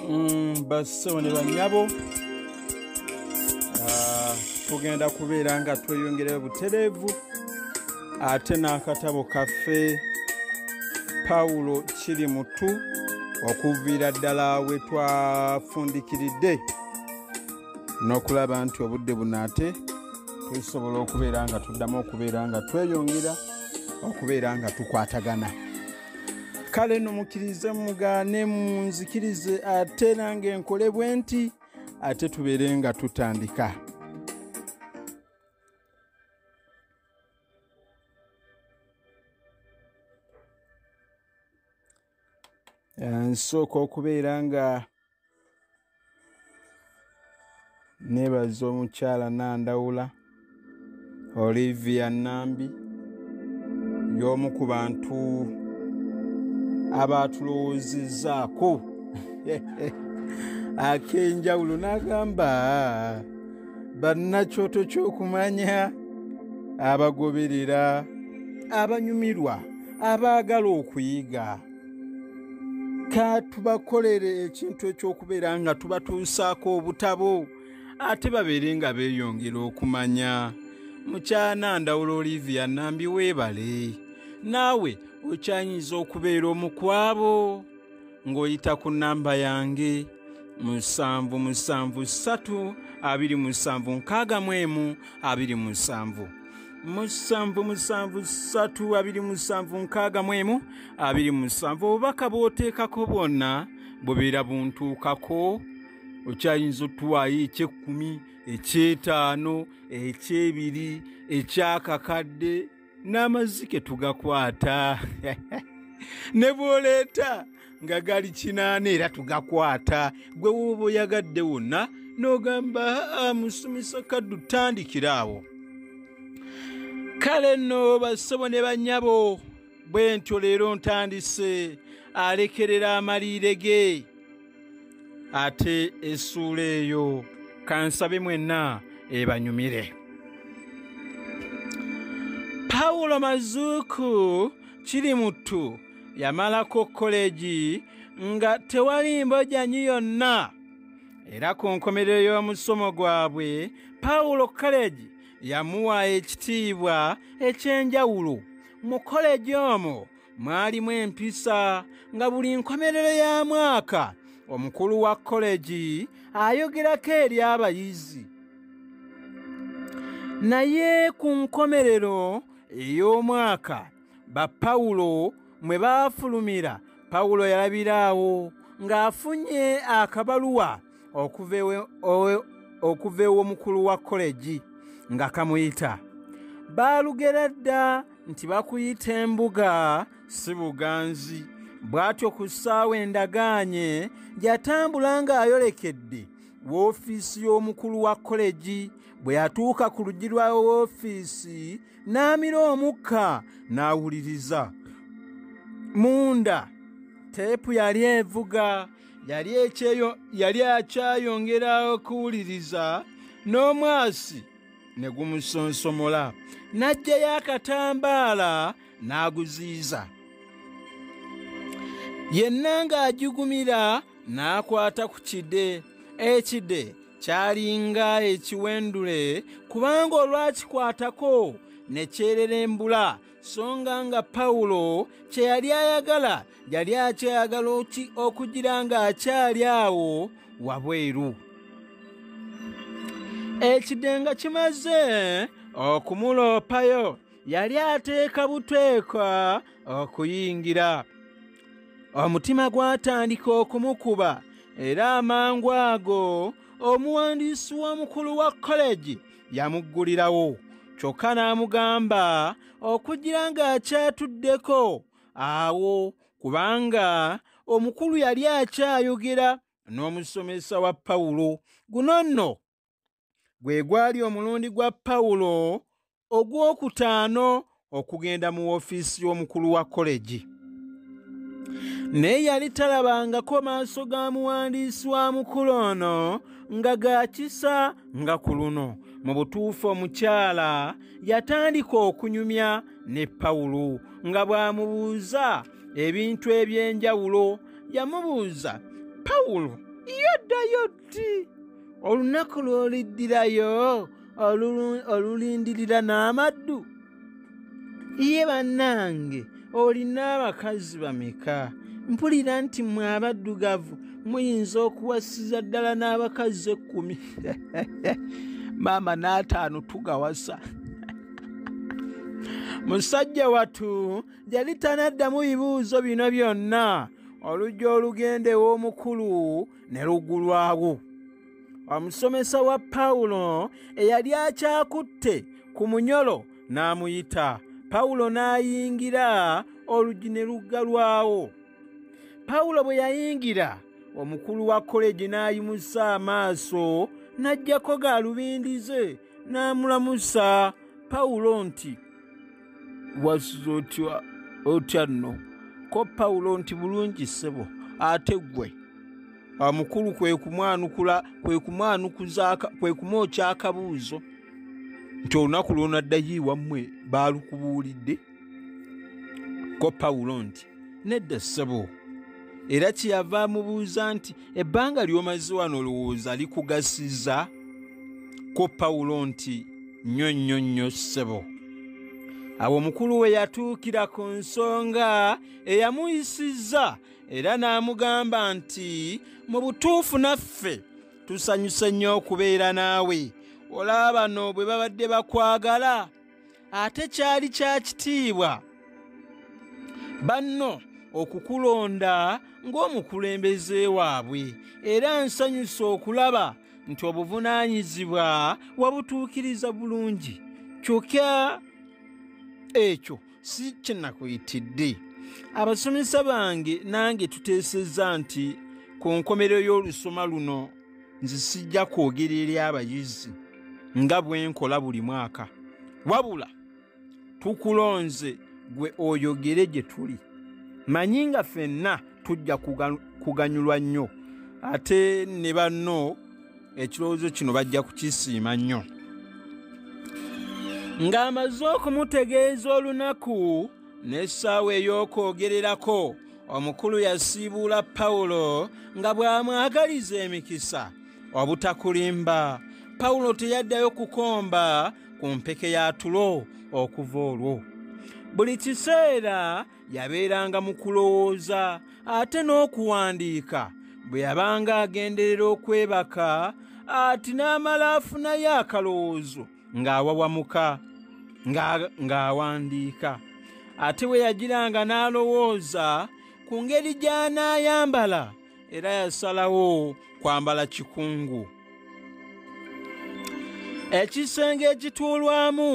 Mm, bassebo ne banyabo ah, tugenda kubeera nga tweyongerayo butereevu ate n'akatabo kaffe pawulo kiri mutu okuviira ddala we twafundikiridde n'okulaba nti obudde buno ate tusobola okubeera nga tuddamu okubeera nga tweyongera okubeera nga tukwatagana kale no mukkirize mugaane munzikirize ate nange nkole bwe nti ate tubeere nga tutandika nsooka okubeera nga nebaza omukyala nandawula olivia nambi y'omu ku bantu abaatulowoozezzaako ak'enjawulo n'agamba bannakyoto ky'okumanya abagoberera abanyumirwa abaagala okuyiga ka tubakolere ekintu ekyokubeera nga tubatuusaako obutabo ate babeere nga beeyongera okumanya mukyana ndawula olivia nambi weebale naawe okyayinza okubeera omukwabo ng'oyita ku nnamba yange musanvu musanvu ssatu abiri musanvu nkaaga mu emu abiri musanvu musanvu musanvu satu abiri musanvu nkaaga mu emu abiri musanvu obubaka bw'oteekako bwonna bubeera buntuukako okyayinza otuwaayo ekyekkumi ekyetaano ekyebiri ekyakakadde n'amazzi ke tugakwata ne bwoleeta nga gali kinaana era tugakwata gwe woba oyagadde wonna n'ogamba ah, musumisa kaddu tandikira awo kale nno basobo ne bannyabo bwe ntyo leero ntandise alekerera amaliire ge ate essuula eyo kansabe mwenna ebanyumire pawulo mazuuku kiri muttu yamalako kkoleegi nga tewali mbojanyi yonna era ku nkomerero y'omusomo gwabwe pawulo kaleegi yamuwa ekitiibwa eky'enjawulo mu kkoleegi omwo mwalimu empisa nga buli nkomerero ya mwaka omukulu wa kkoleegi ayogerako eri abayizi naye ku nkomerero ey'omwaka ba pawulo mwe baafulumira pawulo yalabira awo ng'afunye akabaluwa okuva ew'omukulu wa kolegi nga kamuyita baalugera dda nti bakuyita embuga si buganzi bw'atyo ku ssaawa endagaanye yatambula ng'ayolekedde woofiisi y'omukulu wa kolegi bwe yatuuka ku luggi lwa woofiisi n'amira omukka n'awuliriza munda teepu yali evuga yali ekyeyo yali akyayongera okuwuliriza n'omwasi ne gumusonsomola n'aggyayo akatambaala n'aguziiza yenna ng'agigumira n'akwata ku kide ekide kyalinga ekiwendule kubanga olwakikwatako ne kyererembula so nga nga pawulo kye yali ayagala yali akyayagala oki okugira ng'akyali awo wabweru ekidenga kimaze okumuloopayo yali ateeka buteeka okuyingira omutima gwatandika okumukuba era amangu ago omuwandiisi w'omukulu wa koleji yamuggulirawo kyokka n'amugamba okugira ng'akyatuddeko awo kubanga omukulu yali akyayogera n'omusomesa wa pawulo guno nno gwe gwali omulundi gwa pawulo ogw'okutaano okugenda mu ofiisi y'omukulu wa kolegi naye yali talabangako maaso ga muwandiisi wa mukulu ono nga gaakisa nga ku luno mu butuufu omukyala yatandika okunyumya ne pawulo nga bw'amubuuza ebintu eby'enjawulo yamubuuza pawulo yoddayo kati olunaku lw'oliddirayo olulindirira n'amaddu ye bannange olina abakazi bameka mpulira nti mwe abaddugavu muyinza okuwasiza ddala n'abakazi ekkumi maama n'ataano tugawasa musajja watu yali tanaddamu bibuuzo bino byonna olujja olugenda ew'omukulu ne lugulwawo omusomesa wa pawulo eyali akyakutte ku munyolo n'amuyita pawulo n'ayingira olugi ne luggalwawo pawulo bwe yayingira omukulu wa koleji n'ayimusa amaaso n'ajjako gaalubindi ze n'amulamusa pawulo nti wasuza otya otya nno ko pawulo nti bulungi ssebo ate ggwe amukulu kwe kumwanukula kwe kumwanukuza kwe kumwokya akabuuzo nti olunaku lwonaddayo iwammwe baalukubuulidde ko pawulo nti nedda ssebo era kyeyava amubuuza nti ebbanga ly'omaze wano olowooza likugasiza ko pawulo nti nnyo nnyo nnyo ssebo awo omukulu we yatuukira ku nsonga eyamuyisizza era n'amugamba nti mu butuufu naffe tusanyuse nnyo okubeera naawe olaba bano bwe babadde bakwagala ate kyali kya kitiibwa banno okukulonda ng'omukulembeze waabwe era nsanyusa okulaba nti obuvunaanyizibwa wabutuukiriza bulungi kyokka ekyo si kyenakuyitidde abasomesa bange nange tuteesezza nti ku nkomerero y'olusoma luno nze sijja kwogera eri abayizi nga bwe nkola buli mwaka wabula tukulonze gwe oyogere gye tuli manyi nga ffenna tujja kuganyulwa nnyo ate ne banno ekirowoozo kino bajja kukisiima nnyo ng'amaze okumutegeeza olunaku n'essaawa ey'okwogererako omukulu yasiibuula pawulo nga bw'amwagaliza emikisa obutakulimba pawulo teyaddayo kukomba ku mpeke ya tulo okuva olwo buli kiseera yabeeranga mu kulowooza ate n'okuwandiika bwe yabanga agenderera okwebaka ati n'amala afunayo akalowoozo ng'awawamuka ng'awandiika ate bwe yagiranga n'alowooza ku ngeri gy'anaayambala era yasalawo kwambala kikungu ekisenge ekituulwamu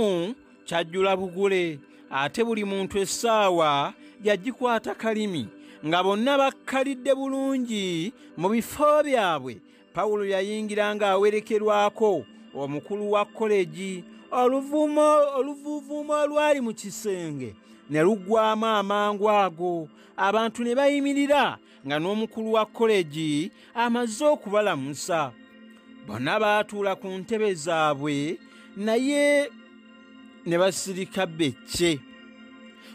kyajjula bugule ate buli muntu essaawa yagikwata kalimi nga bonna bakkalidde bulungi mu bifo byabwe pawulo yayingira ng'awerekerwako omukulu wa kolegi oluvuumo oluvuuvuumo olwali mu kisenge ne luggwamu amangu ago abantu ne bayimirira nga n'omukulu wa kolegi amaze okubalamusa bonna baatuula ku ntebe zaabwe naye ne basirika becce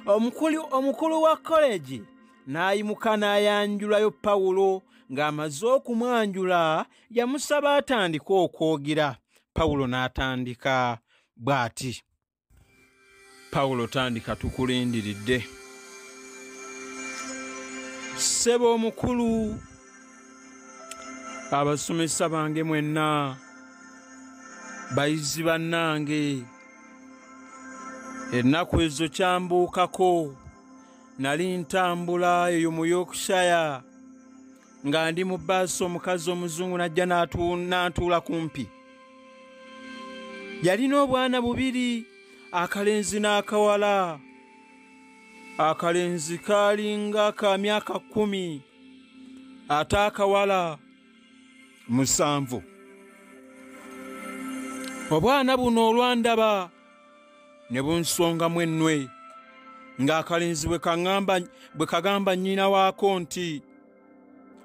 omukulu wa kolegi n'ayimuka n'ayanjulayo pawulo ng'amaze okumwanjula yamusaba atandike okwogera pawulo n'atandika bw'ati pawulo tandika tukulindiridde ssebo omukulu abasomesa bange mwenna bayizi bannange ennaku ezo kyambuukako nali ntambula eyo mu yorkshire nga ndi mu baasi omukazi omuzungu najja n'antuula kumpi yalina obwana bubiri akalenzi n'akawala akalenzi kaalinga ka myaka kkumi ate akawala musanvu obwana buno olwandaba ne bunsongamu ennwe ng'akalenzi bwe kagamba nnyina waako nti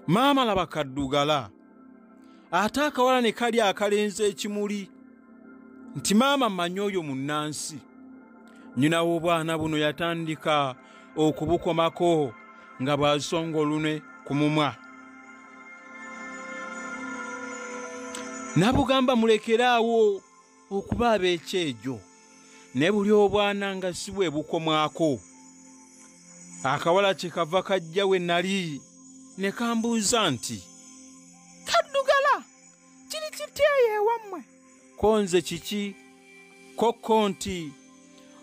maama laba kaddugala ate akawala ne kali akalenzi ekimuli nti maama manya oyo munnansi nnyina w'obwana buno yatandika okubukomako nga bw'asonga olune ku mumwa nabugamba mulekeraawo okuba ab'ekyejo naye buli obwana nga si bwe bukomwako akawala kye kava kajja we nali ne kambuuza nti kaddugala kiri kiteeyo ewammwe ko nze kiki kokko nti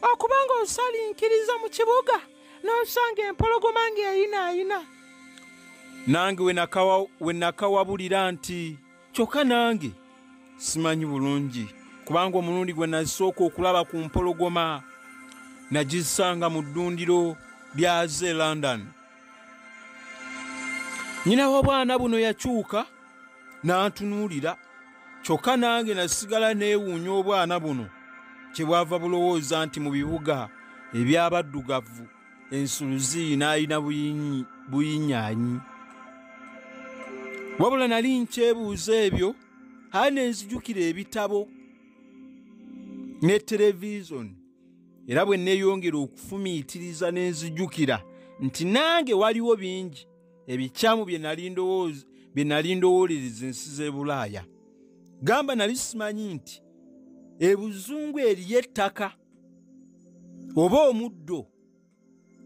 okuba ng'osalinkiriza mu kibuga n'osanga empologoma ng'eyinaayina nange we nakawabulira nti kyokka nange simanyi bulungi kubanga omulundi gwe nasooka okulaba ku mpologoma nagisanga mu ddundiro lyaze london nyina w'obwana buno yakyuka n'antunuulira kyokka nange nasigala neewuunya obwana buno kye bwava bulowooza nti mu bibuga eby'abaddugavu ensuluzi n'alina buyinyaanyi wabula nali nkyebuuza ebyo haa ne nzijukira ebitabo ne televizoni era bwe nneeyongera okufumiitiriza ne nzijukira nti nange waliwo bingi ebikyamu bye nali ndowoolereza ensi z'e bulaaya gamba nali simanyi nti ebuzungu eriyo ettaka oba omuddo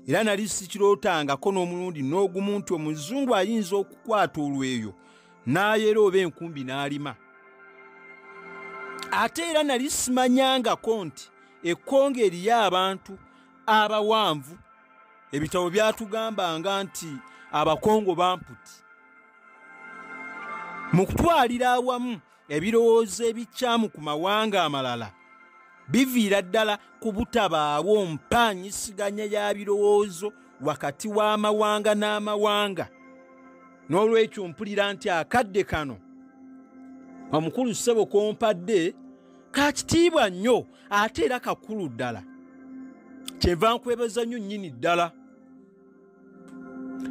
era nali sikirootangako n'omulundi n'ogumu nti omuzungu ayinza okukwata olweyo n'ayera oba enkumbi n'alima ate era nali simanyangako nti ekkonga eriyo abantu abawanvu ebitabo byatugambanga nti abakongo bamputi mu kutwalira awamu ebirowoozo ebikyamu ku mawanga amalala biviira ddala ku butabaawo mpaanyisiganya ya birowoozo wakati w'amawanga n'amawanga n'olwekyo mpulira nti akadde kano omukulu ssebo kompadde ka kitiibwa nnyo ate era kakulu ddala kyenva nkwebaza nnyo nnyini ddala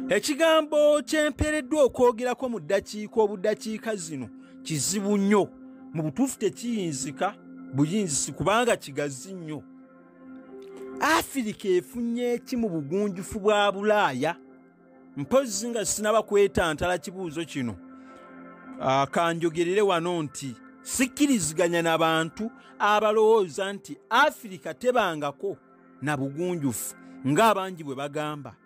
ekigambo kyempeereddwa okwogerako mu ddakiika obuddakiika zino kizibu nnyo mu butuufu tekiyinzika buyinzisi kubanga kigazi nnyo afirika efunye eki mu bugunjufu bwa bulaaya mpozzi nga sinaba kwetantala kibuuzo kino ah, kanjogerere wano nti sikkiriziganya na bantu abalowooza nti afirika tebangako na bugunjufu ng'abangi bwe bagamba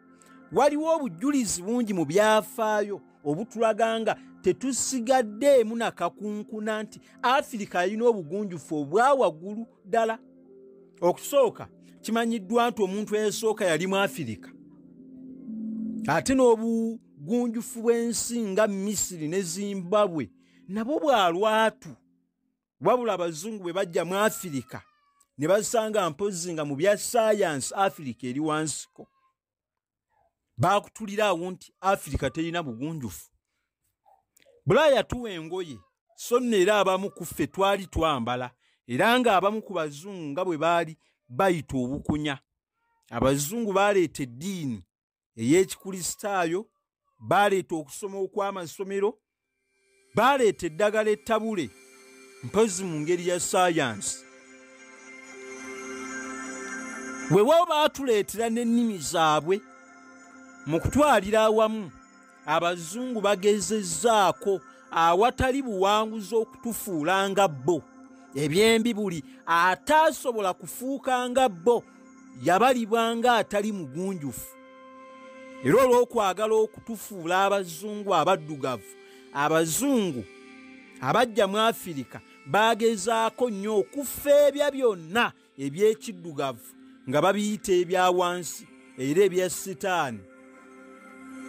waliwo obujjulizi bungi mu byafaayo obutulaga nga tetusigaddeemu na kakunkuna nti afirika yalina obugunjufu obwa waggulu ddala okusooka kimanyiddwa nti omuntu eyasooka yali mu afirika ate n'obugunjufu bw'ensi nga misiri ne zimbabwe nabwo bwa lwatu wabula abazungu bwe bajja mu afirika ne basanga mpozzi nga mu bya sayansi afirika eri wansiko baakutulira awo nti afirika terina bugunjufu bulaaya tuwa engoye so nno era abamu ku ffe twali twambala era ng'abamu ku bazungu nga bwe baali bayita obukunya abazungu baleeta eddiini ey'ekikristaayo baaleeta okusoma okw'amasomero baaleeta eddagala ettabule mpozi mu ngeri ya sayansi wewawo baatuleetera n'ennimi zaabwe mu kutwalira awamu abazungu bagezezzaako awatali buwanguzi okutufuula nga bo ebyembi buli ataasobola kufuuka nga bo yabalibwa nga atali mugunjufu era olw'okwagala okutufuula abazungu abaddugavu abazungu abajja mu afirika bagezaako nnyo okufeebya byonna eby'ekiddugavu nga babiyita ebya wansi era ebya sitaani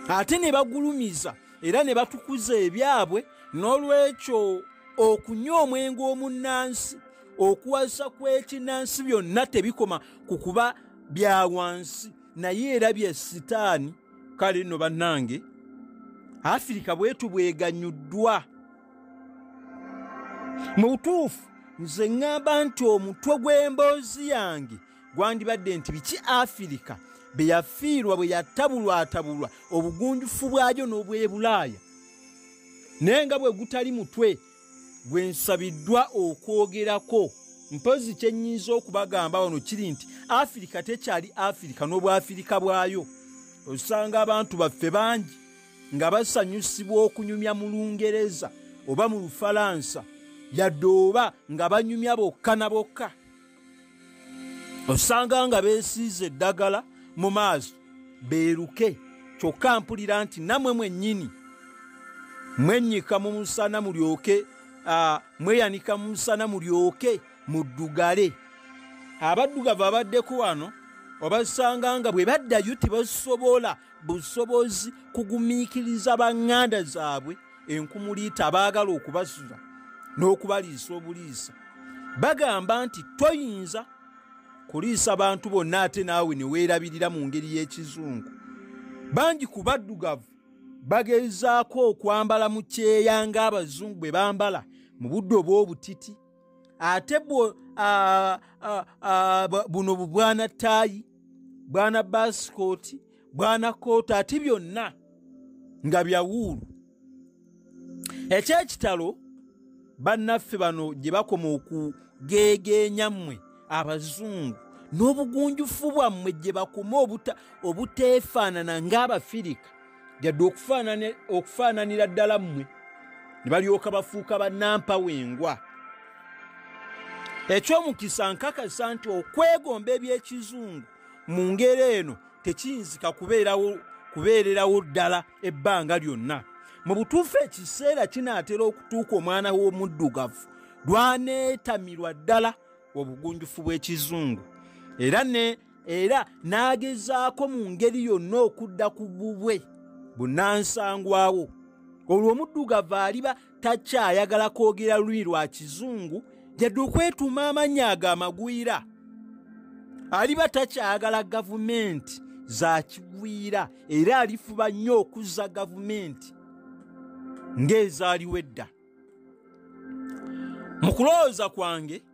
ate ne bagulumiza era ne batukuza ebyabwe n'olwekyo okunywa omwenge omunnansi okuwasa kw'ekinnansi byonna tebikoma ku kuba bya wansi naye era bya sitaani kale nno bannange afirika bwetu bweganyuddwa mu butuufu nze ŋŋamba nti omutwe gw'emboozi yange gwandibadde nti biki afirika bye yafiirwa bwe yatabulwatabulwa obugunjufu bwayo n'obwebulaaya naye nga bwe gutali mutwe gwe nsabiddwa okwogerako mpozi kye nnyinza okubagamba wano kiri nti afirika tekyali afirika n'obwafirika bwayo osanga abantu baffe bangi nga basanyusibwa okunyumya mu lungereza oba mu lufalansa yadde oba nga banyumya bokka na bokka osanga nga besiiza eddagala mu maaso beeruke kyokka mpulira nti namwe mwennyini mwennyika mu musana mulyoke mweyanika mu musana mulyoke muddugale abaddugavu abaddeko wano obasanga nga bwe baddayo tebasobola busobozi kugumiikiriza banganda zaabwe enkumuliita abaagala okubasuza n'okubaliisa obuliisa bagamba nti toyinza kuliisa bantu bonna ate naawe ne weerabirira mu ngeri y'ekizungu bangi ku baddugavu bagezaako okwambala mu kyeya ng'abazungu bwe bambala mu budde obw'obutiti ate bwo ah, ah, ah, bu- buno bu bwana taayi bwana basikooti bwana kooti ate byonna nga byawuulu ekyekitalo bannaffe bano gye bakoma okugeegeenya mmwe abazungu n'obugunjufu bwammwe gye bakoma obuta- obuteefaanana ng'abafirika yadde okufaananira ddala mmwe ne balyoka bafuuka bannampawengwa eky'omukisa nkakasa nti okwegomba eby'ekizungu mu ngeri eno tekiyinzika kubeerawo kubeererawo ddala ebbanga lyonna mu butuufu ekiseera kinaatera okutuuka omwana w'omuddugavu lwaneetamirwa ddala obugunjufu bw'ekizungu era ne era n'agezaako mu ngeri yonna okudda ku bubwe bunansangwawo olwo omuddugavu aliba takyayagala kwogera lulimi lwa kizungu yadde okwetuuma amannya ago amagwira aliba takyayagala gavumenti za kigwira era alifuba nnyo okuzza gavumenti ng'ezaaliwo edda mu kulowooza kwange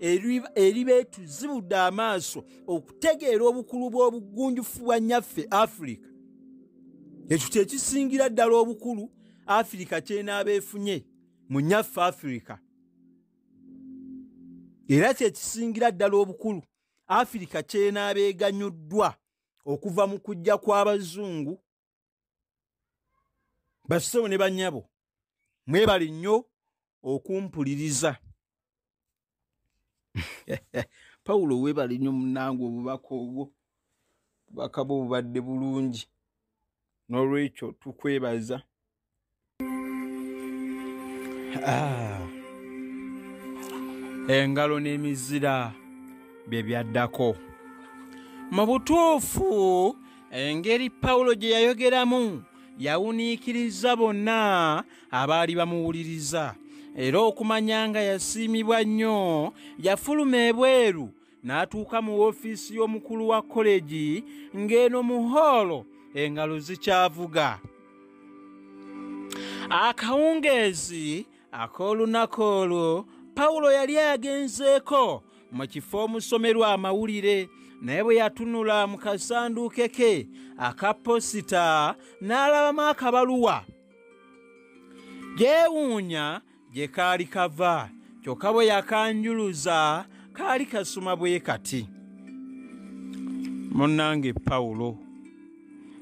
eribeetuzibudde amaaso okutegeera obukulu bw'obugunjufu bwa nyaffe afirika ekyo kyekisingira ddala obukulu afirika kyenaaba efunye mu nyaffe afirika era kyekisingira ddala obukulu afirika kyenaaba eganyuddwa okuva mu kujja kw'abazungu basebo ne banyabo mwebali nnyo okumpuliriza pawulo webali nnyo munange obubaka obwo bubaka bwo bubadde bulungi n'olwekyo tukwebaza Ah. engalo n'emizira bye byaddako mu butuufu engeri pawulo gye yayogeramu yawuniikiriza bonna abaali bamuwuliriza era okumanya nga yasiimibwa nnyo yafuluma ebweru n'atuuka mu woofiisi y'omukulu wa kolegi ng'eno mu hoolo engalo zikyavuga akawungeezi ak'olunaku olwo pawulo yali agenzeeko mu kifo omusomerwa amawulire naye bwe yatunula mu kasanduuke ke aka posita n'alabamu akabaluwa gyewuunya gye kaali kava kyokka bwe yakanjuluza kaali kasuma bwe kati munnange pawulo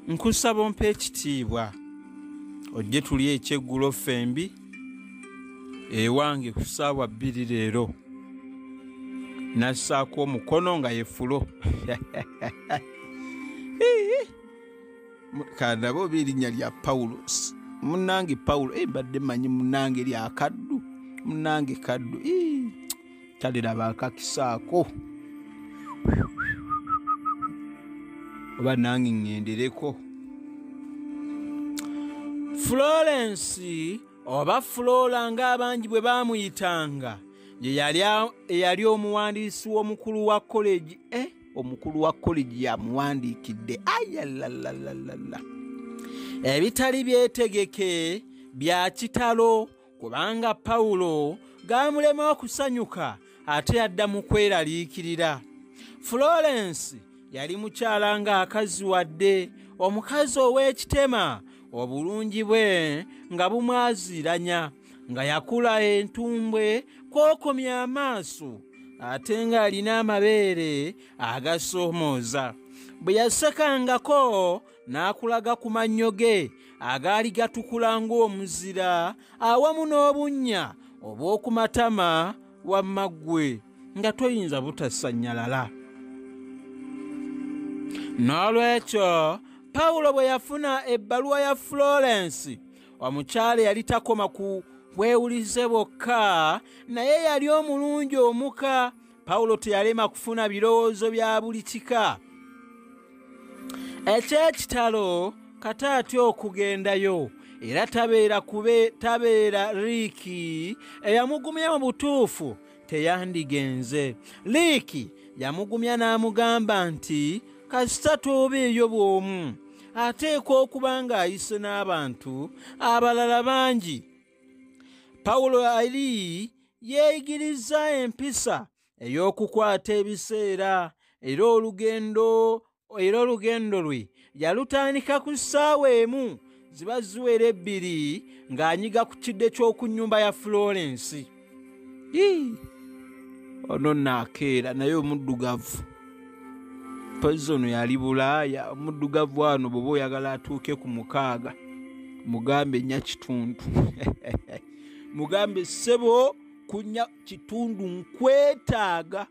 nkusaba ompa ekitiibwa ojje tuli ekyeggulo ffembi ewange ku ssaawa bbiri leero nassaako omukono nga yefulo kandabe oba erinnya lya pawulosi munange pawulo e mbadde manyi munange lya kaddu munange kaddu taliraba akakisaako oba nange ŋŋendereko florence oba flora ng'abangi bwe baamuyitanga ye yali omuwandiisi w'omukulu wa koleji e eh? omukulu wa kolegi yamuwandiikidde ayalalalala ebitali byetegeke bya kitalo kubanga pawulo gaamulema okusanyuka ate yadda mu kweraliikirira florence yali mukyala ng'akazi wadde omukazi ow'ekitema obulungi bwe nga bumwaziranya nga yakula entumbwe kwokomya amaaso ate ng'alina amabeere agasoomooza bwe yasekangako n'akulaga ku mannyo ge agaali gatukula ng'omuzira awamu n'obunnya obw'oku matama wamma ggwe nga toyinza butasannyalala n'olwekyo pawulo bwe yafuna ebbaluwa ya florence omukyala yali takoma ku bwewulize bwokka naye yali omulungi omuka pawulo teyalema kufuna birowoozo bya buli kika ekyekitalo kata atya okugendayo era tabeera kube tabeera riiki eyamugumya mu butuufu teyandigenze liiki yamugumya n'amugamba nti kasita toobeeyo bw'omu ateekwa okuba ng'ayise n'abantu abalala bangi pawulo ali yeeyigiriza empisa ey'okukwata ebiseera era olugendo era olugendo lwe yalutandika ku ssaawa emu ziba ziwera ebbiri ng'anyiga ku kidde ky'oku nnyumba ya florence ono naakeera naye omuddugavu pozi ono yali bulaaya omuddugavu ano bweoba oyagala atuuke ku mukaaga mugambe nya kitundu mugambe ssebo kunya kitundu nkwetaaga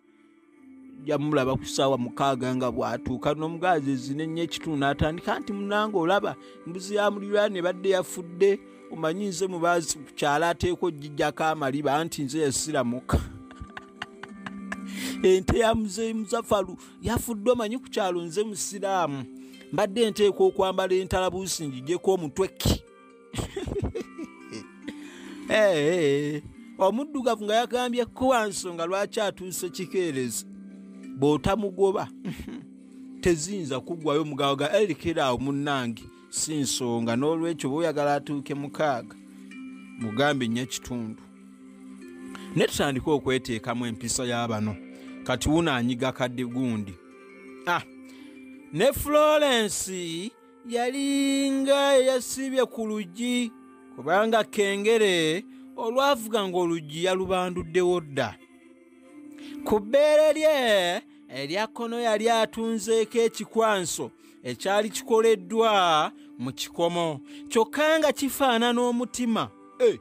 yamulaba ku ssaawa mukaaga nga bw'atuuka n'omugaazi ezina ennyo ekitundu n'atandika nti munange olaba mbuzi ya muliraani ebadde yafudde omanyi nze mubaazi ku kyalo ateekwa ogijjako amaliba anti nze yasiramuka ente ya muzeeyi muzafalu yafudde omanyi ku kyalo nze musiraamu mbadde nteekwa okwambala entalabuusi ngijeko omutweki Eh, omuddugavu nga yagambye kuwa nsonga lwaki atuuse kikeerezi bw'otamugoba teziyinza kuggwayo mugabo ga erikera awo munnange si nsonga n'olwekyo bwoyagala atuuke mukaaga mugambe nnyo ekitundu ne tutandika okweteekamu empisa ya bano kati wuno anyiga kadde gundi ah, ne florence yalinga eyasiibye ku luggi kubanga kengere olwavuga ng'oluggi yalubanduddewo dda ku bbeere lye erya kkono yali atunzeeko ekikwanso ekyali kikoleddwa mu kikomo kyokka nga kifaanana omutima eh,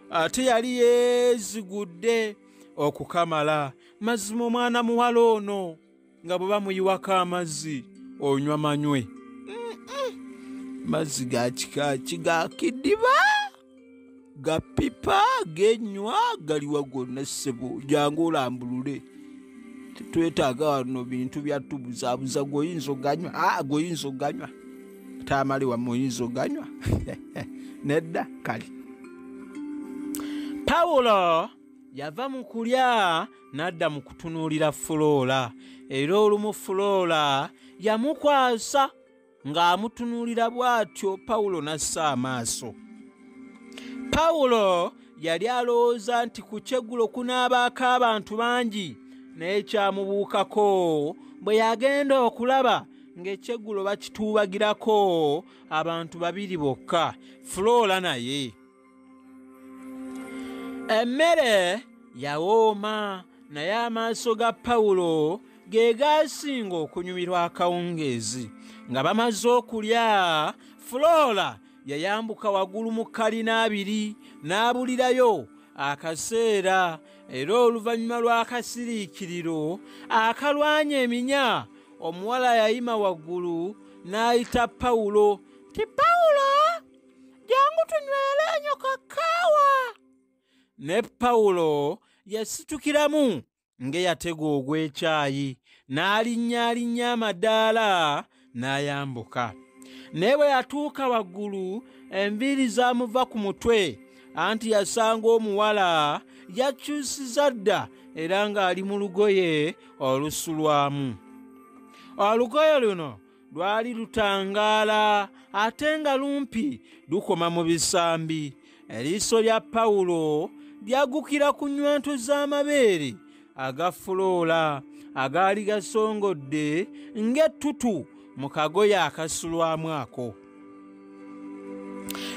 ate yali yeezigudde okukamala mazima omwana muwala ono nga bwe bamuyiwako amazzi onywa manywe mazzi ga kika ki ga kidiba ga pipa genywa galiwa gonna ssebo jangu olambulule tetwetaaga wano bintu byatubuzaabuza goyinza oganywa aa ah, goyinza oganywa taamali wamu oyinza oganywa nedda kale pawulo yava mu kulya n'adda mu kutunuulira fuloola era olumu fuloola yamukwasa ng'amutunuulira bw'atyo pawulo n'assa amaaso pawulo yali alowooza nti ku kyeggulo kunaabaako abantu bangi naye kyamubuukako bwe yagenda okulaba ng'ekyeggulo bakituubagirako abantu babiri bokka fuloola naye emmere yawooma naye amaaso ga pawulo ge gaasinga okunyumirwa akawungeezi nga bamaze okulya fuloora yayambuka waggulu mu kalina abiri n'abulirayo akaseera era oluvannyuma lw'akasiriikiriro akalwanya eminya omuwala yayima waggulu n'ayita pawulo ti pawulo jangu tunywere enyo kakaawa ne pawulo yasitukiramu ng'eyatega ogw'ekyayi n'alinnyalinnya amadaala n'ayambuka naye bwe yatuuka waggulu enviiri zaamuva ku mutwe anti yasanga omuwala yakyusiza dda era ng'ali mu lugoye olusulwamu olugoye luno lwali lutangaala ate nga lumpi lukoma mu bisambi eriiso lya pawulo lyagukira ku nywanto z'amabeere agafuloola agaali gasongodde ng'ettutu mu kagoye akasulwamu ako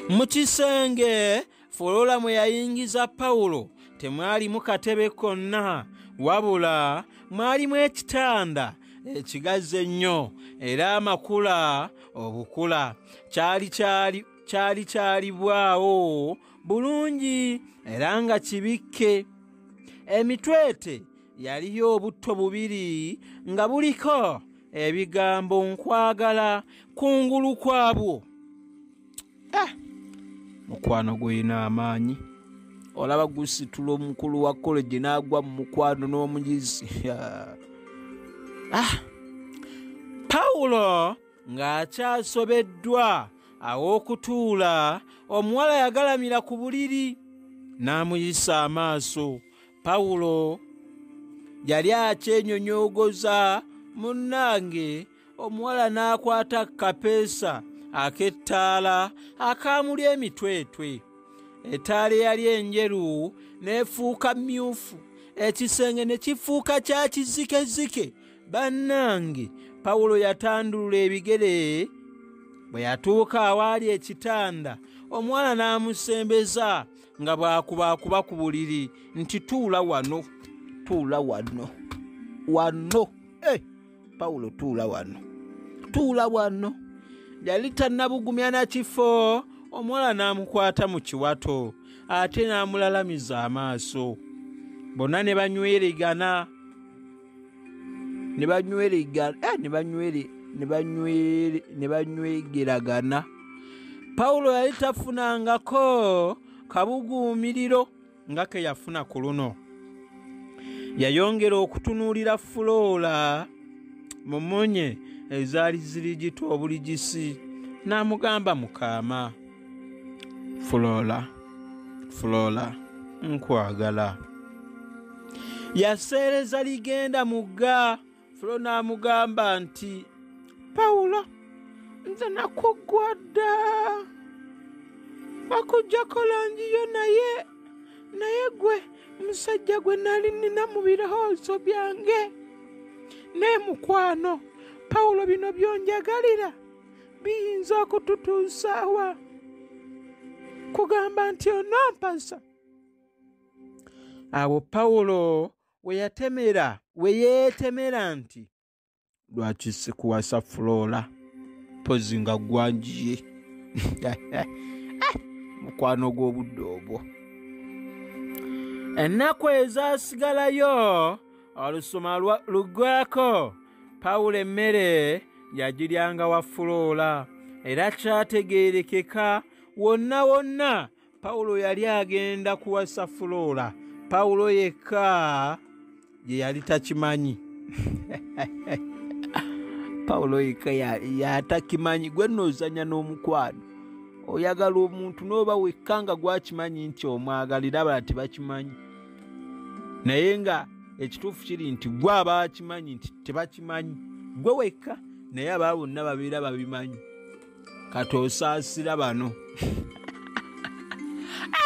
mu kisenge folola mwe yayingiza pawulo temwalimu katebe konna wabula mwalimu ekitanda ekigazzi ennyo era amakula obukula kyali kyali kyali kyalibwawo bulungi era nga kibikke emitwete yaliyo obutto bubiri nga buliko ebigambo nkwagala kungulu kwabwo eh, mukwano gulina amaanyi olaba gusitula omukulu wa koleji n'agwa mu mukwano n'omuyizi ah. pawulo ng'akyasobeddwa aw'okutuula omuwala yagalamira ku buliri n'amuyisa amaaso pawulo yali akyenyonyogoza munnange omuwala n'akwata kapeesa ak'ettaala akaamuli emitwetwe ettaala eyali enjeru n'efuuka myufu ekisenge ne kifuuka kya kizikezike bannange pawulo yatandulula ebigere bwe yatuuka awaali ekitanda omuwala n'amusembeza nga bwakubaakuba ku buliri nti tuula wano tuula wano wano e eh, pawulo tuula wano tuula wano yali tannabugumya na kifo omuwala n'amukwata mu kiwato ate n'amulalamiza amaaso bonna ne banywerigana ne banyweregana eh, ne banywere ne banywere ne banywegeragana pawulo yali tafunangako kabuguumiriro nga ke yafuna ku luno yayongera okutunuulira fuloola mu munye ezaali zirigita obuligisi n'amugamba mukaama Flora, Flora, nkwagala. Yaseereza ligenda mugga, Flora n'amugamba nti, Pawulo, nze nakuggwa dda. Bakuggyako langi yo naye, naye gwe musajja gwe nali nnina mu birowoozo byange. Naye mukwano, Pawulo bino by'onjagalira? biyinza okututuusaawa kugamba nti onompasa awo pawulo we yatemera we yeetemera nti lwaki sikuwasa fuloola mpozi nga gwanjiye mukwano gw'obudde obwo ennaku ezasigalayo olusoma luggwako pawulo emmere yagiryanga wa fuloola era kyategeerekeka wonna wonna pawulo yali agenda kuwasa fuloola pawulo yekka gye yali takimanyi pawulo yekka yatakimanyi gwe noozanya n'omukwano oyagala omuntu n'oba wekka nga gwakimanyi nti omwagalira abala tebakimanyi naye nga ekituufu kiri nti gwe abakimanyi nti tebakimanyi gwe wekka naye abaa bonna babeera babimanyi kati osaasira bano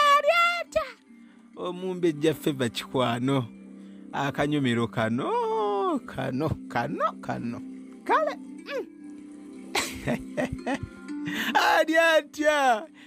alyata omumbe jjaffe bakikwano akanyumiro kano kano kano kano kale mm. ali atya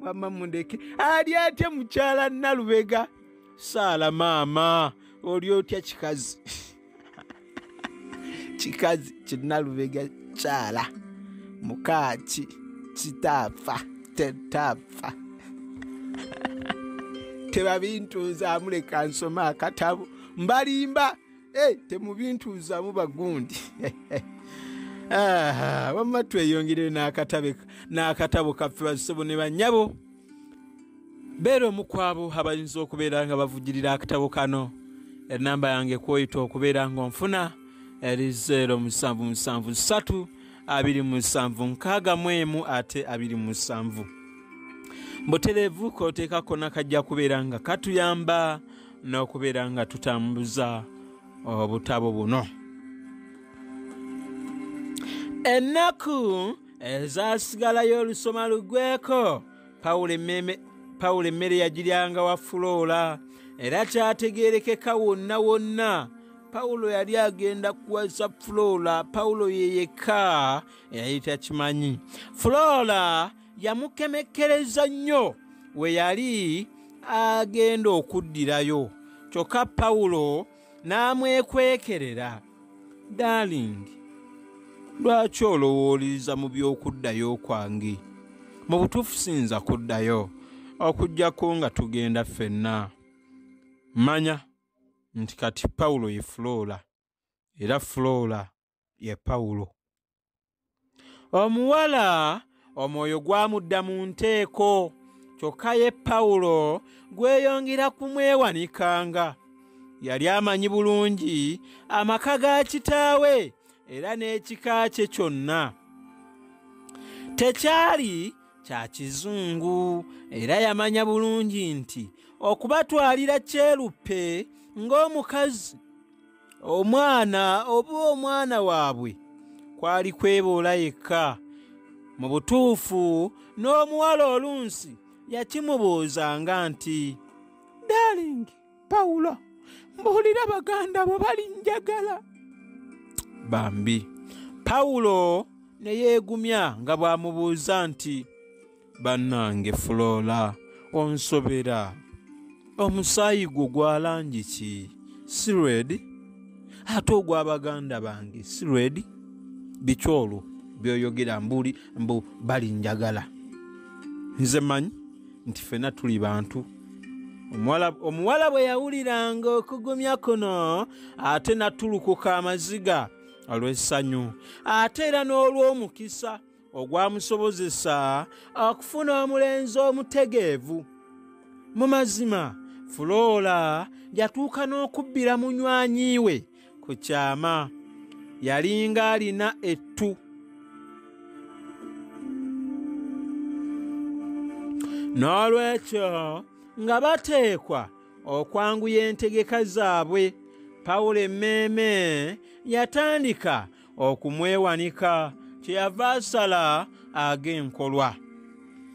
wamma mundeke ali atya mukyala nalubega saala maama oli otya kikazi kikazi kinalubega kyala mukaaki kitaafa tetaafa tebabintuuza amuleka nsoma akatabo mbalimba Hey, temubintuuzaamu bagundi ah, wamma tweyongerere n'akatabo kaffe bazisebo ne bannyabo beera omu kwabo abayinza okubeera nga bavugirira akatabo kano enamba yange kwoyita okubeera ng'onfuna eri 0 musanvu musanvu ssatu abiri musanvu nkaaga mu emu ate abiri musanvu mbutereevu kooteekako nakajja kubeera nga katuyamba n'okubeera nga tutambuza obutabo buno ennaku ezasigalayo olusoma lugweko pawulo emmere yagiryanga wa fuloola era kyategeerekeka wonna wonna pawulo yali agenda kuwasa fuloola pawulo yeyekka eyali takimanyi fuloola yamukemekkereza nnyo we yali agenda okuddirayo kyokka pawulo n'amwekwekerera darlingi lwaki olowooleza mu by'okuddayo kwange mu butuufu siyinza kuddayo okuggyako nga tugenda ffenna manya nti kati pawulo ye fuloola era fuloola ye pawulo omuwala omwoyo gwamudda mu nteeko kyokka ye pawulo gweyongera kumwewanikanga yali amanyi bulungi amaka ga kitaawe era n'ekika kye kyonna tekyali kya kizungu era yamanya bulungi nti okubatwalira kyeruppe ng'omukazi omwana oba omwana waabwe kwali kweboola yekka mu butuufu n'omuwala olunsi yakimubuuzanga nti dalingi pawulo mbuulira baganda bo balinjagala bambi pawulo ne yeegumya nga bw'amubuuza nti bannange fuloola onsobera omusaayi gwo gwa langi ki si redi ate ogwa baganda bange si redi biki olwo byoyogera mbuli mbu bali njagala nze manyi nti fena tuli bantu omuwala bwe yawuliranga okugumya kuno ate natulukuka amaziga olw'essanyu ate era n'olw'omukisa ogwamusobozesa okufuna omulenzi omutegeevu mu mazima fuloola yatuuka n'okubbira munywanyi we ku kyama yalinga alina ettu n'olwekyo nga bateekwa okwanguya entegeka zaabwe pawulo emmeeme yatandika okumwewanika kyeyava asala ag'enkolwa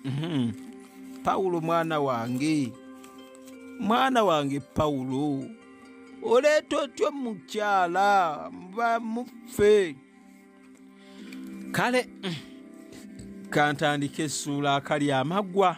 mhm. pawulo mwana wange mwana wange pawulo oleeta otya omukyala bamuffe kale mm, kantandika essuula akali amaggwa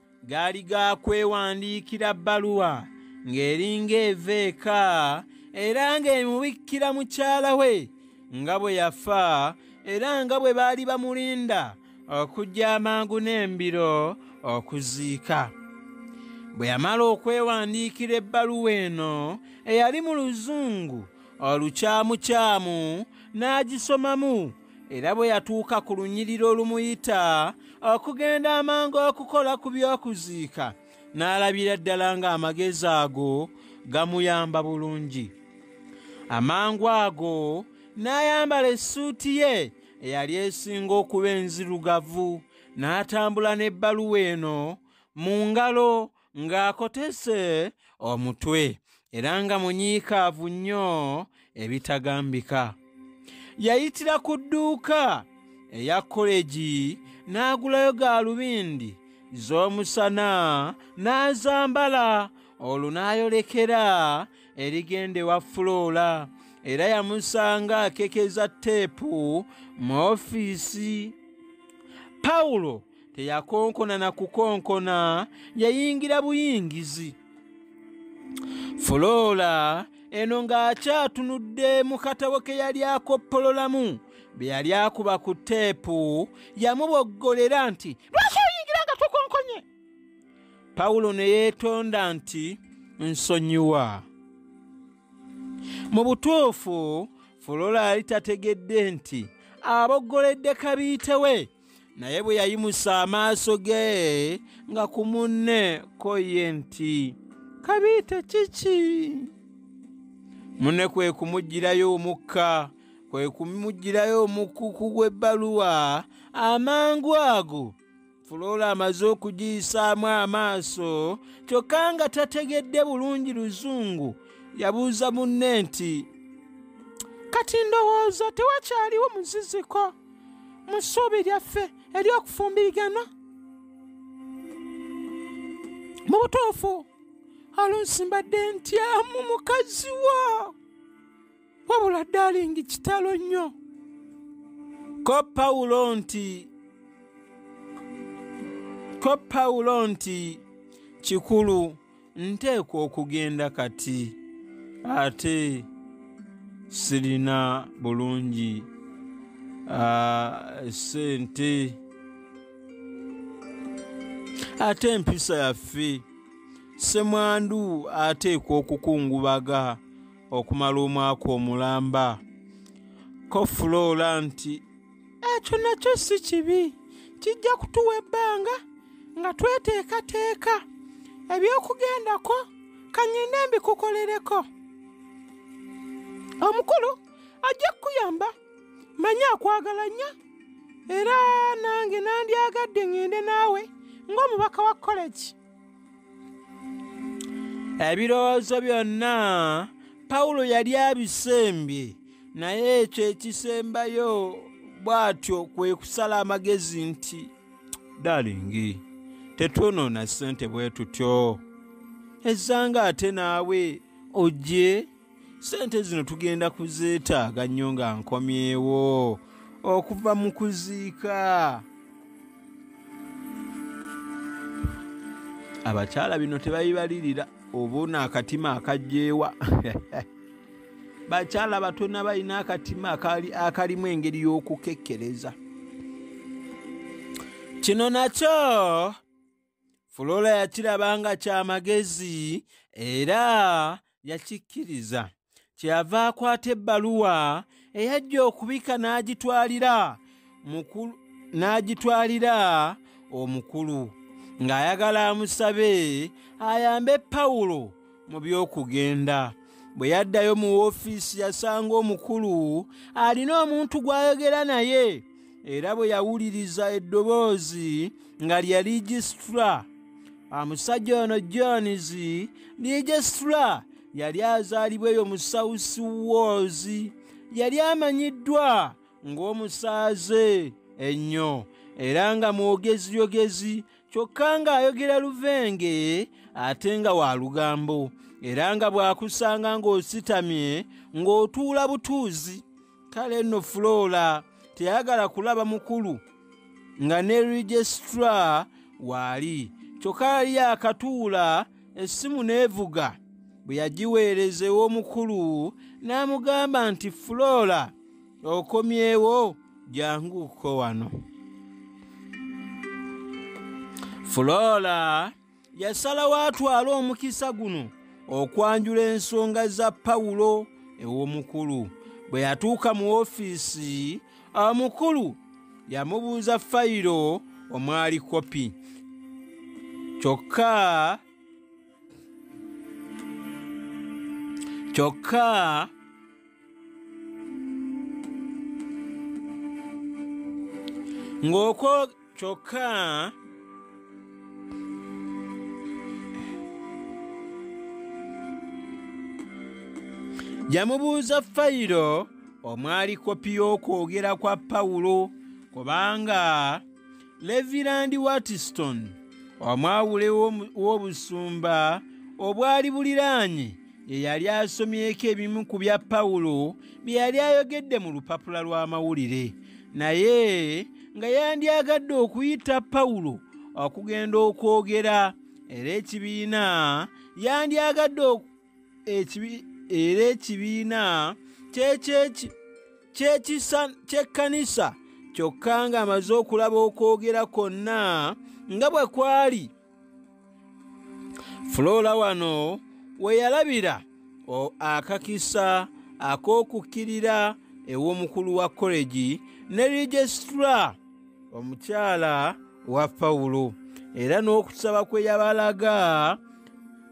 gaali ga kwewandiikira bbaluwa ng'eringa eva eka era ng'emubikkira mukyala we nga bwe yafa era nga bwe baali bamulinda okujja amangu n'embiro okuziika bwe yamala okwewandiikira ebbaluwa eno eyali mu luzungu olukyamukyamu n'agisomamu era bwe yatuuka ku lunyiriro olumuyita okugenda amangu okukola ku by'okuziika n'alabira ddala ng'amagezi ago gamuyamba bulungi amangu ago n'ayambala essuuti ye eyali esinga okuba enzirugavu n'atambula n'ebbaluwa eno mu ngalo ng'akotese omutwe era nga munyiikaavu nnyo ebitagambika yayitira ku dduuka eya kolegi n'agulayo gaalubindi z'omusana n'azambala olwo n'ayolekera erigenda ewa fuloola era yamusanga akekeza teepu mu ofiisi pawulo teyakonkona na kukonkona yayingira buyingizi fuloola eno ng'akyatunudde mu katabo ke yali akoppololamu bye yali akuba ku teepu yamuboggolera nti lwaki oyingira nga tukonkonye pawulo ne yeetonda nti nsonyiwa mu butuufu fuloola yali tategedde nti aboggoledde kabiite we naye bwe yayimusa amaaso ge nga ku munne ko ye nti kabiite kiki munne kwe kumuggyirayo omukka kwe kumuggyirayo omukuku gw'ebbaluwa amangu ago fuloola amaze okugiyisaamu amaaso kyokka nga tategedde bulungi luzungu yabuuza munne nti kati ndowooza tewakyaliwo muziziko mu ssuubi lyaffe ery'okufumbiriganwa mu butuufu oluusi mbadde ntyamu mukazi wo wabula dalingi kitalo nnyo ko pawulo nti ko pawulo nti kikulu nteekwa okugenda kati ate sirina bulungi sente ate empisa yaffe semwandu ateekwa okukungubaga okumala omwaka omulamba kofuloola nti ekyo nakyo si kibi kijja kutuwa ebbanga nga tweteekateeka ebyokugendako kanyinde mbikukolereko omukulu ajja kukuyamba manya akwagala nnyo era nange nandyagadde ŋŋende naawe ng'omubaka wa kolegi ebirowoozo byonna pawulo yali abisembye naye ekyo ekisembayo bw'atyo kwe kusala amagezi nti dalingi tetwonoona ssente bwe tutyo ezzanga ate naawe ojje sente zino tugenda kuzeetaaga nnyo nga nkomyewo okuva mu kuziika abakyala bino tebabibalirira obuuna akatima akajjeewa bakyala batona balina akatima akalimu engeri y'okukekkereza kino nakyo fulola yakiraba nga kya magezi era yakikkiriza kyeyava akwata ebbaluwa eyajja okubika n'agitwalira mukulu n'agitwalira omukulu ng'ayagala amusabe ayambe pawulo mu by'okugenda bwe yaddayo mu woofiisi yasanga omukulu alina omuntu gw'ayogera naye era bwe yawuliriza eddoboozi nga lya ligisitula omusajja ono jones ligisitula yali azaalibwa eyo mu south wars yali amanyiddwa ng'omusaaze ennyo era nga mwogeziyogezi kyokka ng'ayogera luvenge ate nga wa lugambo era nga bw'akusanga ng'ositamye ng'otuula butuuzi kale nno fuloola teyagala kulaba mukulu nga ne registra waali kyokka yali yakatuula essimu n'evuga bwe yagiweereza ew'omukulu n'amugamba nti fuloola okomyewo janguko wano fulora yasalawo atwale omukisa guno okwanjula ensonga za pawulo ew'omukulu bwe yatuuka mu ofiisi omukulu yamubuuza fayiro omwali kopi kyokka kyokka ng'okwo kyokka yamubuuza fayiro omwali kopi y'okwogera kwa pawulo kubanga levirandi watiston omwawule w'obusumba obwali buliraanye ye yali asomyeko ebimu ku bya pawulo bye yali ayogedde mu lupapula lw'amawulire naye nga yandyagadde okuyita pawulo okugenda okwogera era ekibiina yandyagadde era ekibiina ky'ekkanisa kyokka ng'amaze okulaba okwogera kwonna nga bwe kwali fuloola wano we yalabira akakisa ak'okukkirira ew'omukulu wa kolegi ne rigisitula omukyala wa pawulo era n'okusaba kwe yabalaga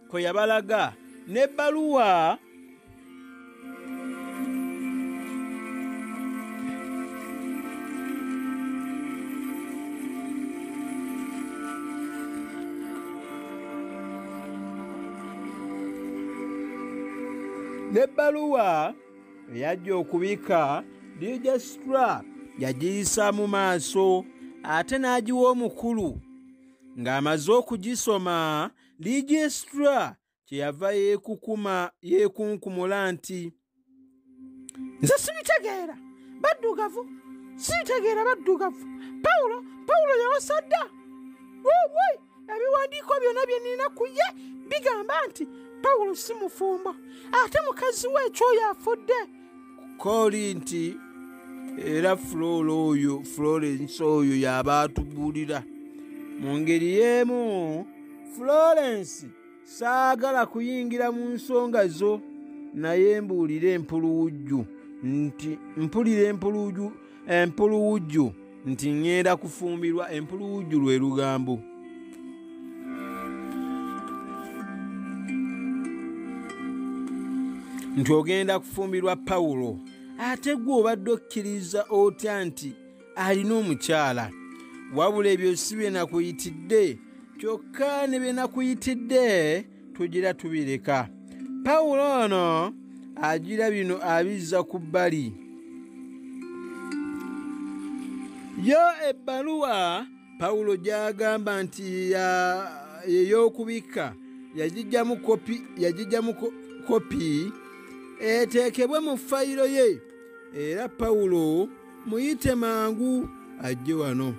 kwe yabalaga n'ebbaluwa n'ebbaluwa eyajja okubika digistra yagiyisa mu maaso ate n'agiwa omukulu ng'amaze okugisoma digistra kyeyava yeekukuma yeekunkumula nti nze sibitegeera baddugavu sibitegeera baddugavu pawulo pawulo yawasadda woi ebiwandiiko byonna bye nina ku ye bigamba nti pawulo si mufumbo ate mukazi we ekyoyo afudde kooli nti era fuloolo oyo florence oyo y'aba atubuulira mu ngeri y'emu florence saagala kuyingira mu nsonga zo naye mbuulira empuluwujju nti mpulira empuluwujju empuluwujju nti ŋŋenda kufumbirwa empuluwujju lwe lugambo nti ogenda kufumbirwa pawulo ate gwe obadde okkiriza otya nti alina omukyala wabula ebyo si bye nakuyitidde kyokka ne bye nakuyitidde tugira tubireka pawulo ono agira bino abizza ku bbali yo ebbaluwa pawulo gy'agamba nti ey'okubikka yagijjamu kopi eteekebwe mu fayiro ye era pawulo muyite mangu ajje wano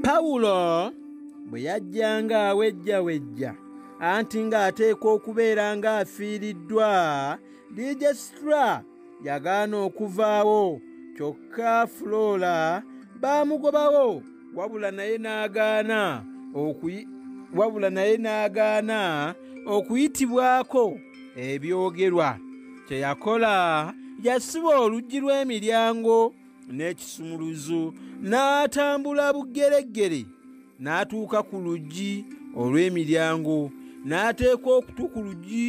pawulo bwe yajjanga awejja wejja anti ng'ateekwa okubeera ng'afiiriddwa dijesitura yagaana okuvaawo kyokka fuloola baamugobawo wabula naye n'agaana wabula naye n'agaana okuyitibwako ebyogerwa kye yakola yasiba oluggi lw'emiryango n'ekisumuluzo n'atambula bugereggere n'atuuka ku luggi olw'emiryango n'ateeka okutu ku luggi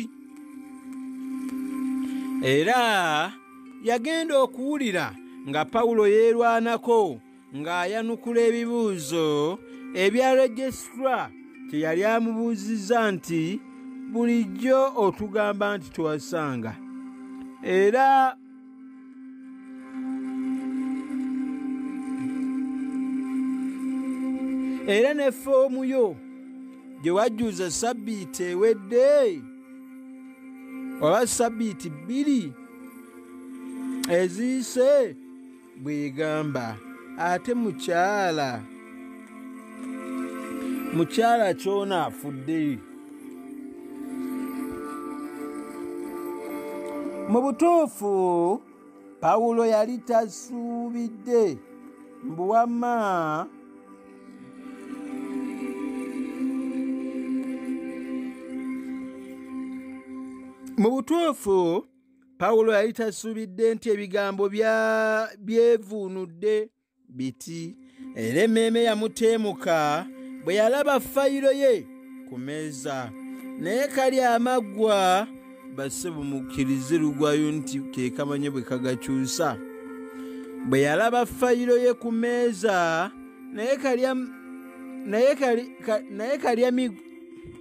era yagenda okuwulira nga pawulo yeerwanako ng'ayanukula ebibuuzo ebya registra kye yali amubuuzizza nti bulijjo otugamba nti twasanga era era ne foomu yo gye wajjuza sabbiiti ewedde oba sabbiiti bbiri eziyise bwegamba ate mukyala mukyala kyona afudde mu butuufu pawulo yali tasuubidde mbu wamma mu butuufu pawulo yali tasuubidde nti ebigambo byevuunudde biti era emmeeme yamuteemuka bwe yalaba fayiro ye ku meeza naye kali amaggwa basse bumukkirize lugwayo nti ke kamanye bwe kagakyusa bwe yalaba fayiro ye ku meeza naye kalya naye kalya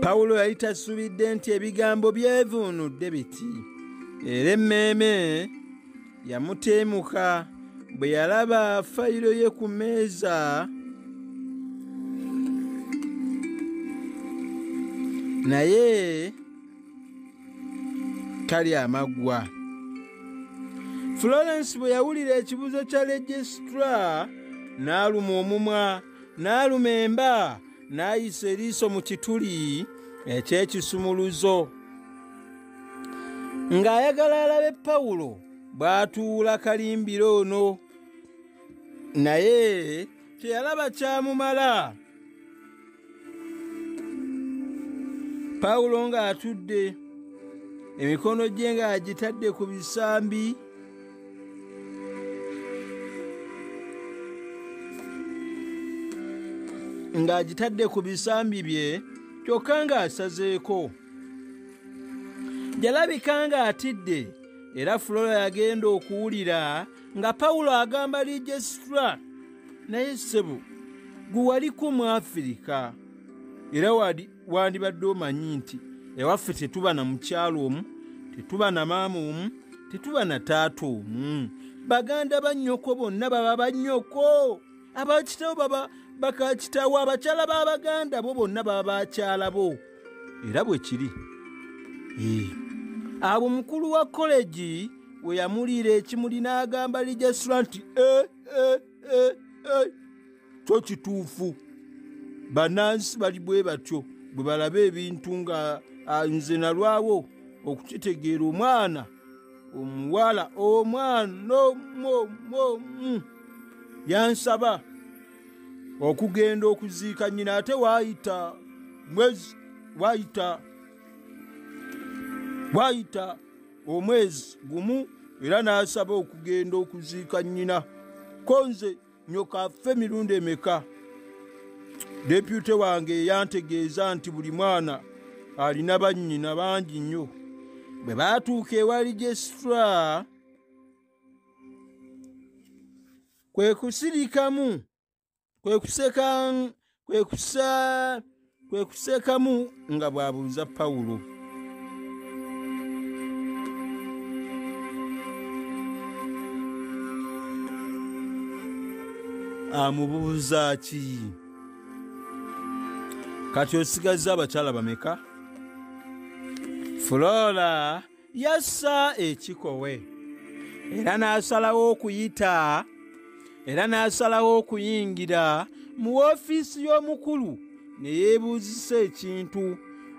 pawulo yali tasubidde nti ebigambo byevuunudde biti era emmeeme yamuteemuka bwe yalaba fayiro ye ku mmeeza naye tali amaggwa florence bwe yawulira ekibuzo kya legistra n'aluma omumwa n'aluma emba n'ayisa eriiso mu kituli eky'ekisumuluzo ng'ayagala alabe pawulo bw'atuula kalimbiro ono naye teyalaba kyamumala pawulo ng'atudde emikono gye ng'agitadde ku bisambi ng'agitadde ku bisambi bye kyokka ng'asazeeko yalabika ng'atidde era fulola yagenda okuwulira nga pawulo agamba lijesitula naye ssebo gwe waliko mu afirika era wali wandibadde omanyi nti ewaffe tetuba na mukyalo omu tetuba na maama omu tetuba na taata omu baganda bannyoko bonna baba bannyoko abakitawo baba bakakitawo abakyala b'abaganda bo bonna baba bakyala bo era bwe kiri abo mukulu wa kolegi we yamuliira ekimuli n'agamba lijasula nti e eh, e eh, e eh, e kyo kituufu banansi bali bwe batyo bwe balaba ebintu nga ah, nze nalwawo okukitegeera omwana omuwala omwana omuomu yansaba okugenda okuziika nyina ate waayita mwezi waayita waayita omwezi gumu era n'asaba okugenda okuziika nyina konze nyoka affe mirundi emeka depute wange eyantegeeza nti buli mwana alina bannyina bangi nnyo bwe baatuuka ewa registra kwe kusirikamu kwe kuseka kwe kuseekamu nga bw'abuuza pawulo amubuuza ki kati osigazza abakyala bameka flora yassa ekikowe era n'asalawo okuyita era n'asalawo okuyingira mu woofiisi y'omukulu ne yeebuuzisa ekintu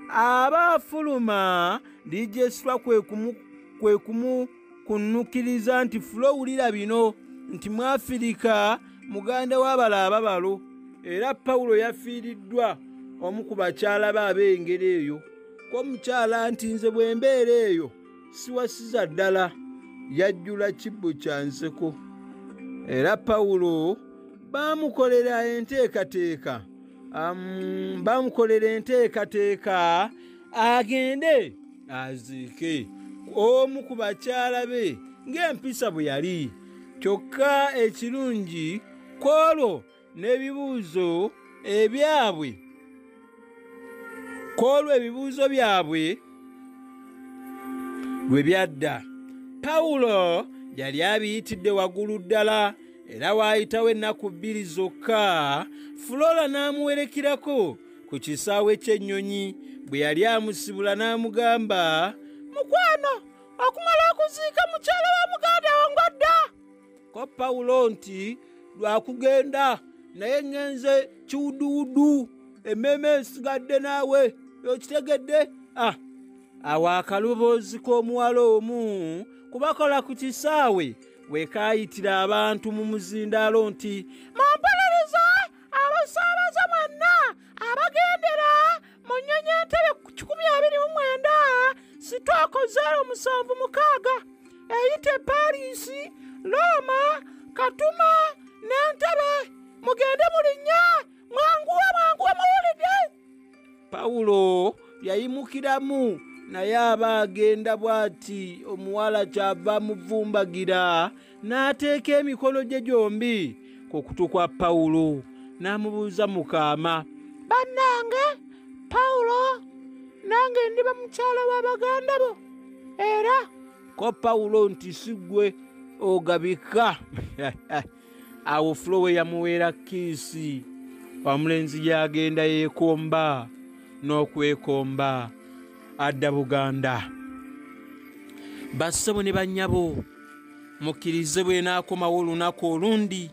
aba afuluma lijesitwa kwe kumukunnukiriza nti fula owulira bino nti mwafirika muganda w'abala ababalo era pawulo yafiiriddwa omu ku bakyala be ab'engeri eyo ko mukyala nti nze bwe mbeera eyo siwasiza ddala yajjula kibbo kya nseko era pawulo baamukolera enteekateeka baamukolera enteekateeka agende aziike omu ku bakyala be ng'empisa bwe yali kyokka ekirungi kwolwo n'ebibuuzo ebyabwe ku olwo ebibuuzo byabwe lwe byadda pawulo yali abiyitidde waggulu ddala era waayitawo ennaku bbiri zokka fulola n'amuwerekerako ku kisaawe ky'ennyonyi bwe yali amusibula n'amugamba mukwano okumala okuziika mukyala wa muganda wo ng'odda ko pawulo nti lwakugenda naye ŋŋenze kiwuduwudu emmeeme esigadde naawe okitegedde a ah, awo akaloboozi k'omuwala omu kubakola ku kisaawe wekaayitira abantu mu muzindaalo nti mumpolereze abasaabaze mwenna abagendera mu nnyonyi entebe ku kikumi abiri mu mwenda sitooko zeero musanvu mukaaga eyita e pariisi looma katuma n'entebe mugende mulinnya mwanguwe mwanguwe muwulidde pawulo yayimukiramu naye aba agenda bw'ati omuwala kyava muvumbagira n'ateeka emikono gye gyombi ku kutu kwa pawulo n'amubuuza mu kaama bannange pawulo nange ndiba mukyala wa baganda bo era ko pawulo nti si ggwe ogabika awo fulowe yamuweera kiisi omulenzi gyagenda yeekomba n'okwekomba adda buganda bassebo ne bannyabo mukkirize bwenaakomawo olunaku olundi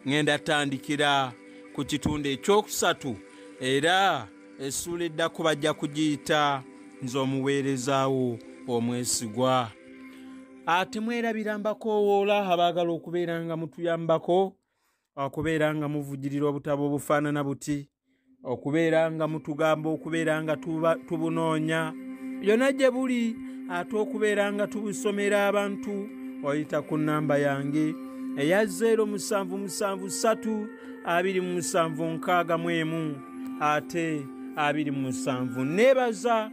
ŋenda tandikira ku kitundu ekyokusatu era essuula eddako bajja kugiyita nze omuweerezaawo omwesigwa ate mwerabira mbakoowoola abaagala okubeera nga mutuyambako okubeera nga muvujirira obutabo obufaanana buti okubeera nga mutugamba okubeera nga tubunoonya byonna gye buli ate okubeera nga tubusomera abantu oyita ku nnamba yange eya 07732761 ate 27 neebaza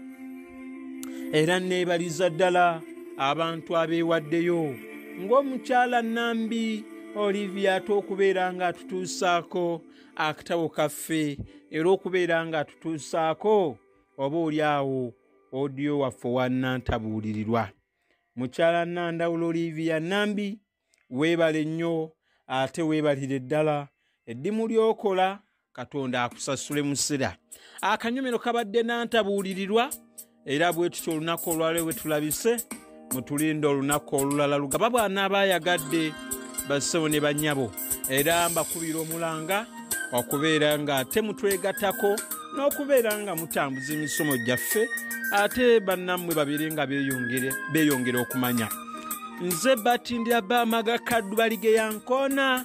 era neebaliza ddala abantu abeewaddeyo ng'omukyala nambi olivia ate okubeera nga atutuusaako akatabo kaffe era okubeera nga atutuusaako oba oli awo odiyo waffe wanantabuulirirwa mukyala nandawula olivia nambi weebale nnyo ate weebalire ddala eddimu lyokola katonda akusasule musira akanyomero kabadde nantabuulirirwa era bwetutya olunaku olwaleo bwetulabise mutulinda olunaku olulala lugaba bwana abayagadde basebo ne banyabo era mbakubira omulanga okubeera nga ate mutwegatako n'okubeera nga mutambuza emisomo gyaffe ate bannammwe babiri nga beyongere okumanya nze batindira bamaga kaddu baligeyankoona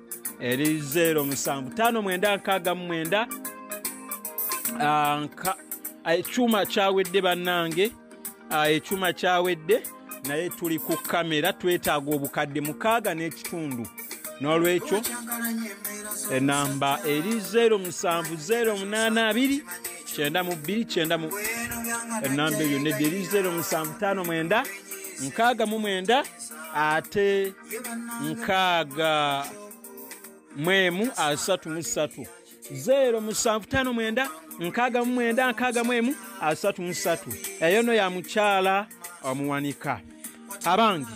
eri 0 musanvu tano mwenda nkaaga mu mwenda ekyuma kyawedde bannange ekyuma kyawedde naye tuli ku kamera twetaaga obukadde mukaaga n'ekitundu n'olwekyo enamba eri 0 musanvu 0 munaana abiri kyenda mu bbiri kyenda mu enamba eyo nedde eri 0 musanvu tano mwenda nkaaga mu mwenda ate nkaaga mwemu asatu mu ssatu zeero musanvu tano mwenda nkaaga mu mwenda nkaaga mwemu asatu mu ssatu eyo no ya mukyala omuwanika abange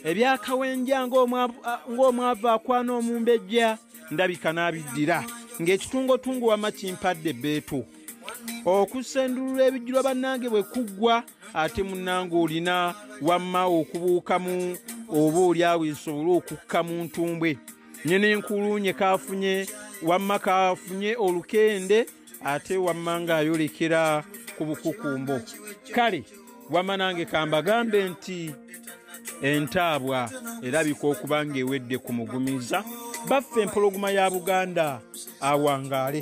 ebyakawenja ng'omwavu akwana omumbejja ndabika n'abiddira ng'ekitungotungo wamma kimpadde bbeetu okusendulula ebijjulwa bannange bwe kuggwa ate munange olina wamma okubuukamu oba oli awo esobole okukka mu ntumbwe nye nenkulunye kafunye wamma kafunye olukende ate wamma ngaayolekera ku bukukumbo kale wamma nange kambagambe nti entaabwa erabika okuba ngaewedde ku mugumiza baffe empologoma ya buganda awangaale